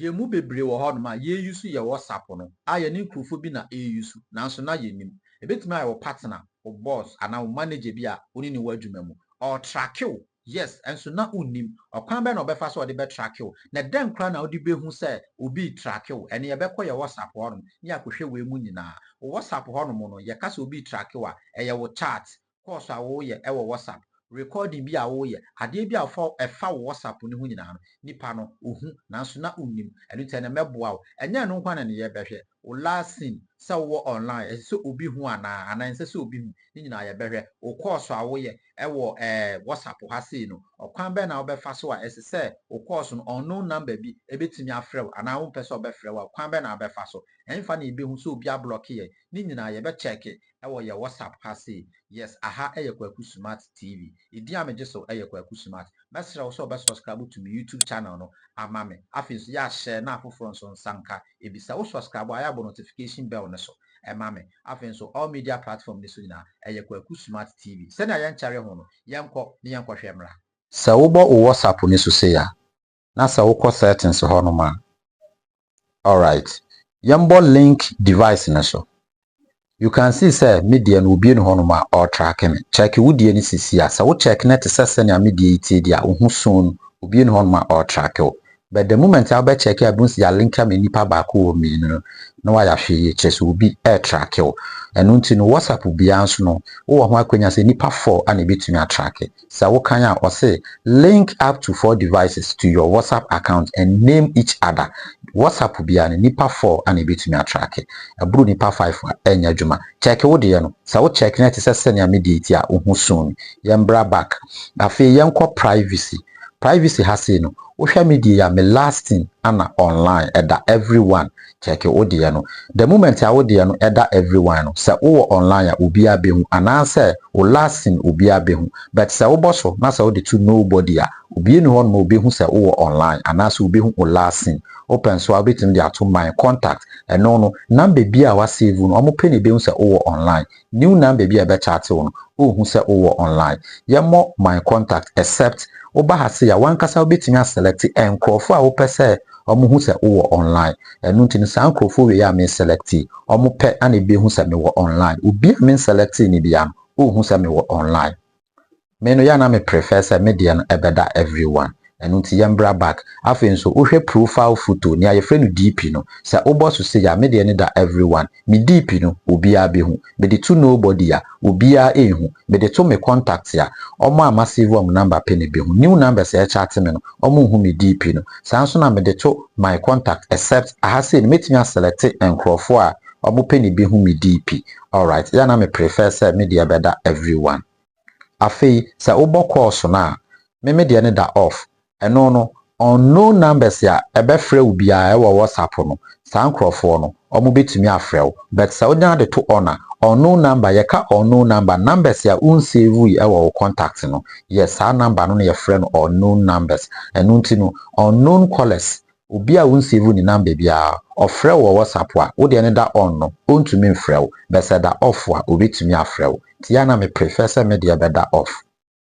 Yɛn mu bebree wɔ hɔnom a yɛresu yɛn wɔ sapo no a yɛne nkurɔfoɔ bi na yɛresu nanso na yɛnnim. Ɛbɛtumi ayɛ wo partner, wo boss anaa wo manager bi a wo ne no wɔ adwuma mu. Ɔretracke wo, yes, nso na wonnim. Ɔkwan bɛn na ɔbɛfa so a ɔde bɛtracke wo? Na dɛn koraa na wode bɛhu sɛ obi retracke wo? Ɛnneɛ yɛbɛkɔ yɛn wɔ sapo hɔnom na yɛakɔhwɛ wei mu nyinaa. Wo wɔ sapo hɔnom no, yɛka sɛ obi retracke wo a, ɛyɛ wo chat, course a woreyɛ wɔ WhatsApp, recording bi a woreyɛ, adeɛ bi a ɔfa ɛfa wo WhatsApp no ho nyinaa no, nipa no, ɔhu, nanso na wonnim. Ɛno nti, ɛnnɛ mɛboa wo. Ɛnyɛ ɛno nko ara na ɛnneyɛ, bɛhwɛ wo last seen, sɛ wowɔ online, ɛsɛ sɛ obi hu anaa, anaa ɛnsɛ sɛ obi hu, ne nyinaa yɛbɛhwɛ. Wo course a woyɛ wɔ ɛɛ WhatsApp ha sei no, ɔkwan bɛn na wobɛfa so a ɛsɛ sɛ wo course no, unknown number bi bɛtumi afrɛ wo, anaa wompɛ sɛ ɔbɛfrɛ wo a, kwan bɛn na wobɛfa so? Ɛhefa na yɛbɛhu sɛ obi ablɔke yɛn? Ne nyinaa yɛbɛkyɛɛke Ɛwɔ yɛ WhatsApp ha sei. Yes aha yɛ Kwaku Sumat TV. Edin a megye so yɛ Kwaku Sumat. Mɛsrɛ wo sɛ ɔbɛ subscribe to me YouTube channel no ama me. Afei nso yɛ a share na afoforɔ nso nsa nka bi. Sɛ wo subscribe a yɛ a bɔ notification bell no so ma me. Afei nso all media platform no so nyinaa ɛyɛ Kwaku Sumat TV. Sɛnea yɛnkyɛre ho no, yɛnkɔ na yɛnkɔhwɛ mmra. Sɛ wobɔ wo WhatsApp no so sei a, na sɛ wokɔ settings hɔ nom a alright yɛmbɔ link device no so you can see sɛ me deɛ no obue no hɔ nom a ɔretracke me check wo deɛ no sisi a sɛ wo check no te sɛ sɛnea me deɛ yi tie deɛ a wohu soon obue no hɔ nom a ɔretracke wo but the moment a wobɛ check a bun sɛ yɛalink ama nipa baako wɔ mmienu no na wayɛ ahwɛ yie kyerɛ sɛ obi ɛretracke wo ɛno nti no whatsapp biara nso no wowɔ ho akwanya sɛ nipa four ana ebetumi atracke Sɛ wo kan a ɔse link up to four devices to your WhatsApp account and name each other, WhatsApp biara no nipa four ana ɛbɛtumi atracke, ɛboro nipa five a ɛnyɛ adwuma. Check wo deɛ no, sɛ wo check no ɛte sɛ sɛnea me deɛ ti a wo ho soon. Yɛmbra back. Afei yɛnkɔ privacy. Privacy ha sei no, wohwɛ me deɛ yi a me lasting ana online ɛda everyone Check wo deɛ no the moment a wo deɛ no ɛda everyone no sɛ wo wɔ online a obiara bɛhu anaa sɛ wo last seen obiara bɛhu but sɛ wo bɔ so na sɛ wo de to nobody a obia nni hɔ nom a obɛhu sɛ wo wɔ online anaa sɛ obɛhu wo last seen wo pɛ nso a wobɛtumi de ato my contact ɛno no number biara a wa save no wɔn pɛ na ɛbɛhu sɛ wo wɔ online new nan baabi a yɛbɛkyate wo no ɔɔhu sɛ wowɔ online yɛmmɔ my contact except woba ha sei a wankasa wobɛtumi a select nkorɔfoɔ a wopɛ sɛ wɔn hu sɛ wowɔ online ɛno nti no saa nkorɔfoɔ wei a me select yi wɔn pɛ na ɛbɛhu sɛ mewɔ online obi a me nselect no biara no ɔɔhu sɛ mewɔ online Me no yɛ a na me prefer sɛ me deɛ no ɛbɛda every one ɛno nti yɛmbra back afei nso wohwɛ profile photo nea yɛfrɛ no DP no sɛ wobɔ so sei a me deɛ no da every one me DP no obiaa bɛhu mede to nobody a obiaa ɛnhu mede to me contacts a ɔmo a masave ɔmo number pɛ na ɛbɛhu new numbers a ɛkyate me no ɔmo nhu me DP no saa nso na mede to my contact except aha sei no mɛtumi a selecte nkorɔfoɔ a ɔmo pɛ na ɛbɛhu me DP alright yɛ a na me prefer sɛ me deɛ ɛbɛda every one. Afei sɛ wobɔ calls no a, me me deɛ no da off. Ɛno no, unknown numbers a ɛbɛfrɛ wo biara ɛwɔ WhatsApp no, saa nkorɔfoɔ no, wɔn bɛtumi afrɛ wo. But sɛ wo nya de to on a, unknown number, yɛka unknown number, numbers a wo nsavui ɛwɔ wo contact no, yes, saa number no na yɛfrɛ no unknown numbers. Ɛno nti no, unknown callers Obi a wonsevu ne number biara, ɔfrɛ wo wɔ WhatsApp a, wo deɛ no da on no, ontumi mfrɛ wo, but sɛ ɛda off a, obetumi afrɛ wo. Nti yɛ a na me prefer sɛ me deɛ bɛda off.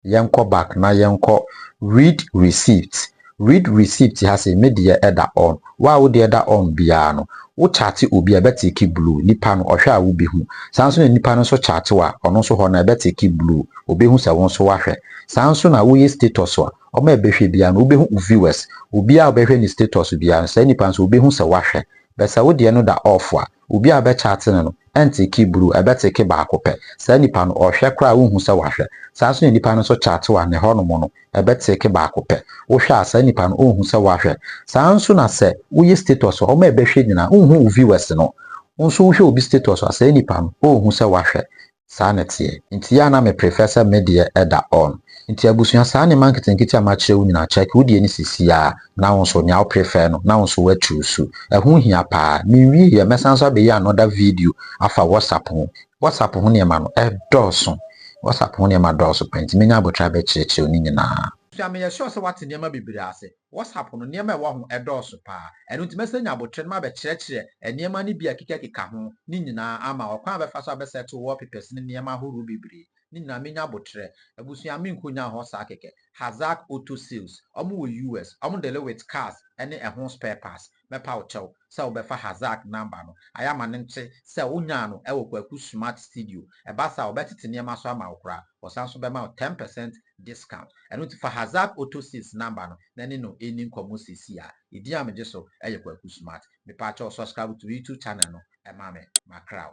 Yɛnkɔ back na yɛnkɔ read receipt. Read receipt ha sei, me deɛ ɛda on. Wo a wo deɛ da on biara no, wo chate obi a, ɛbɛteke blue. Nipa no, ɔhwɛ a wobehu. Saa nso na nipa no nso chate wo a, ɔno nso hɔ no, ɛbɛteke blue. Obehu sɛ wo nso woahwɛ. Saa nso na woyɛ status a, Wɔn a ɛbɛhwɛ biara no wobɛhu wo viewers, obiara a ɔbɛhwɛ ne status biara no saa nipa no nso ɔbɛhu sɛ woahwɛ. But sɛ wo deɛ no da off a, obiara a ɔbɛchat no no ɛnteke bruu, ɛbɛteke baako pɛ. Saa nipa no ɔhwɛ koraa a wonhu sɛ wahwɛ. Saa nso na nipa no nso chat wo a ne hɔ nom no ɛbɛteke baako pɛ. Wohwɛ a saa nipa no ɔnhu sɛ woahwɛ. Saa nso na sɛ woyɛ status a wɔn a ɛbɛhwɛ nyinaa wonhu wo viewers no. Wo nso wohwɛ obi status a saa nipa no ɔnhu sɛ woahwɛ. saa na ɛteɛ nti yɛ a na me prefer sɛ me deɛ ɛda on nti abusua saa nneɛma nketenkete a makyerɛ wo nyinaa check wo deɛ no sisi ara na wo nso nea wo prefer no na wo nso wa choose ɛho hia paa menwie yɛ mɛsan nso abɛyɛ another video afa WhatsApp ho WhatsApp ho nneɛma no ɛdɔɔso WhatsApp ho nneɛma dɔɔso paa nti mɛnya aboterɛ abɛkyerɛkyerɛ wo ne nyinaa. Abusua meyɛ sure sɛ woate nneɛma bebree ase. WhatsApp no, nneɛma a ɛwɔ ho dɔɔso paa. Ɛno nti, mɛsan anya abotire na mabɛkyerɛkyerɛ nneɛma no bi a ɛkekakeka ho no nyinaa ama, ɔkwan a wɔbɛfa so abɛsɛte wallpapers ne nneɛma ahorow bebree no nyinaa. Menya abotire. Abusua, menkonnyaa hɔ saa kɛkɛ. Hazak Auto Sales, Wɔwɔ US. Wɔde Lewitt Cars ne ɛho spare parts. mɛpa wo kyɛw sɛ wobɛfa Hazaq number no, ayɛ ama no nte sɛ wonyaa no wɔ Kwaku Smart Studio. Ɛba saa a, wɔbɛtete nneɛma so ama wo koraa. Wɔsan nso bɛma wo ten percent discount. Ɛno nti fa Hazaq Auto Sales number no na ne no nni nkɔmmɔ seesei ara. Edin a megye so yɛ Kwaku Smart. Mepa kyɛw subscribe to me YouTube channel no ma me. Macraw.